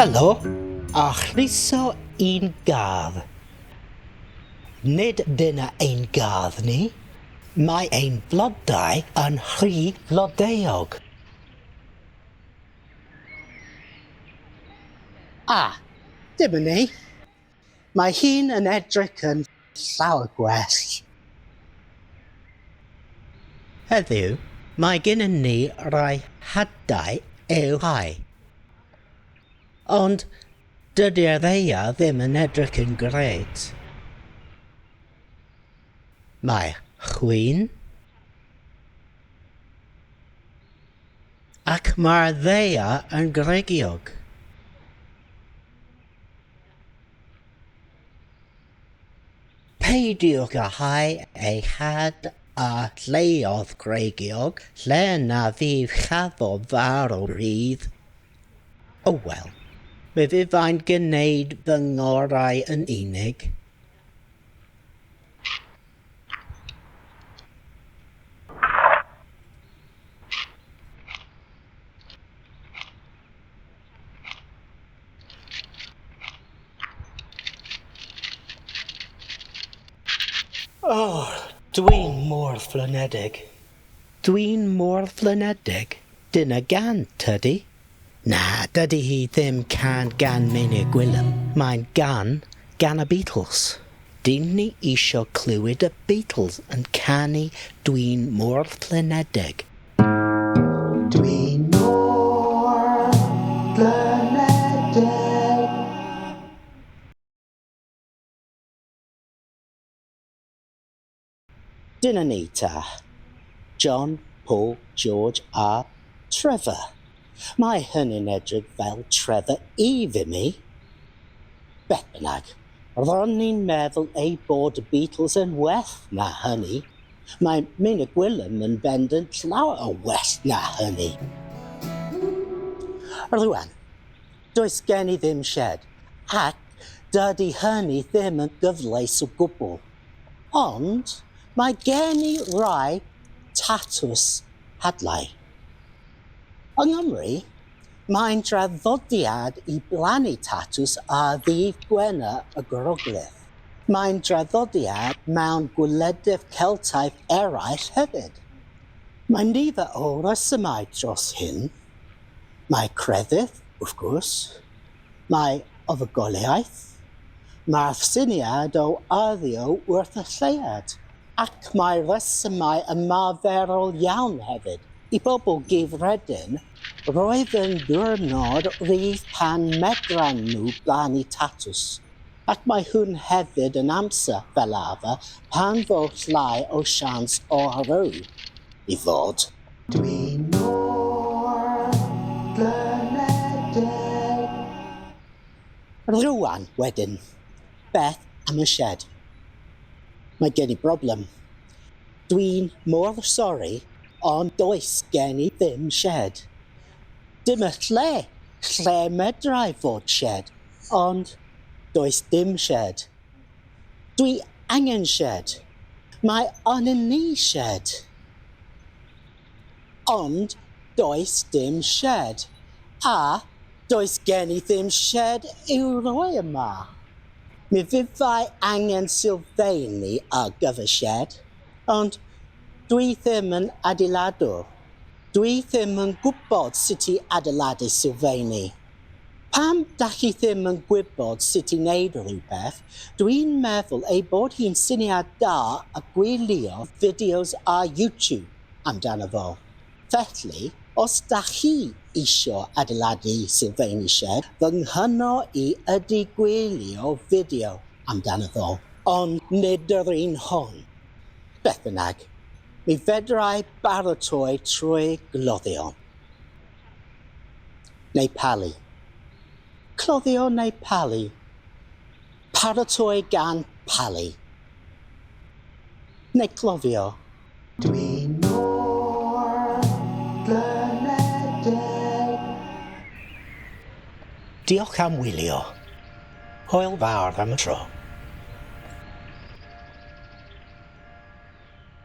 Helo, a chroeso i'n gardd. Nid dyna ein gardd ni, mae ein blodau yn rhy flodeuog. A, dyma ni. Mae hi'n yn edrych yn llawer gwell. Heddiw, mae gennym ni rai hadau i'w hau. Ond dydy'r ddaear ddim yn edrych yn grêt. Mae chwyn ac mae'r ddaear yn gregiog. Peidiwch â hau ei had a lleoedd gwreiddiog lle na fydd cafodd farw rhydd. O wel, mi fyddai'n gwneud fy ngorau yn unig. Oh, dwi'n mor flynedig. Dwi'n mor flynedig? Dyna gan, tydi? Na, dydi hi ddim can gan Meinir Gwilym, mae'n gan gan y Beatles. Dyn ni isio clywed y Beatles yn canu Dwi'n mor flynedig. Dyna ni ta, John, Paul, George a Trevor. Mae hynny'n edrych fel Trevor Eve i mi. Beth bynnag, ro'n i'n meddwl eu bod y Beatles yn well na hynny. Mae Myn y Gwilym yn bendant llawer o well na hynny. Rŵan, does gen i ddim shed, ac dydy hynny ddim yn gyfleus o gwbl. Ond mae gen i rai tatws hadlau. Yng Nghymru, mae'n draddodiad i blannu tatws ar ddydd Gwener y Groglith. Mae'n draddodiad mewn gwledydd Celtaidd eraill hefyd. Mae nifer o resymau dros hyn. Mae crefydd, wrth gwrs. mai ofugoleaeth, mae'r syniad o arddio wrth y lleuad, ac mae rhesymau ymarferol iawn hefyd, i bobl gyffredin, roedd yn ddiwrnod rhydd pan medran nhw blannu tatws, ac mae hwn hefyd yn amser, fel arfer, pan fo llai o sians o arw i ddod. Dwi mor blinedig. Rwan wedyn, beth am y shed? Mae gen i broblem. Dwi'n mor sori ond does gen i ddim shed. Dim y lle lle medrai fod shed ond does dim shed. Dwi angen sied. Mae arnyn ni sied. Ond does dim sied. A does gen i ddim sied i'w roi yma. Mi fyddai angen sylfeini ar gyfer sied, ond dwi ddim yn adeiladwr. Dwi ddim yn gwybod sut i adeiladu sylfeini. Pam dach chi ddim yn gwybod sut i wneud rhywbeth? Dw i'n meddwl ei bod hi'n syniad da a gwylio fideos ar YouTube amdano fo. Felly, os dach chi isio adeiladu sylfeini sied, fy nghyno i ydy gwylio fideo amdano fo, ond nid yr un hon. Beth bynnag, mi fedrai baratoi trwy gloddio. neu palu. Cloddio neu palu. Paratoi gan palu neu cloddio. Dwi mor glymedeg. Diolch am wylio. Hwyl fawr am y tro.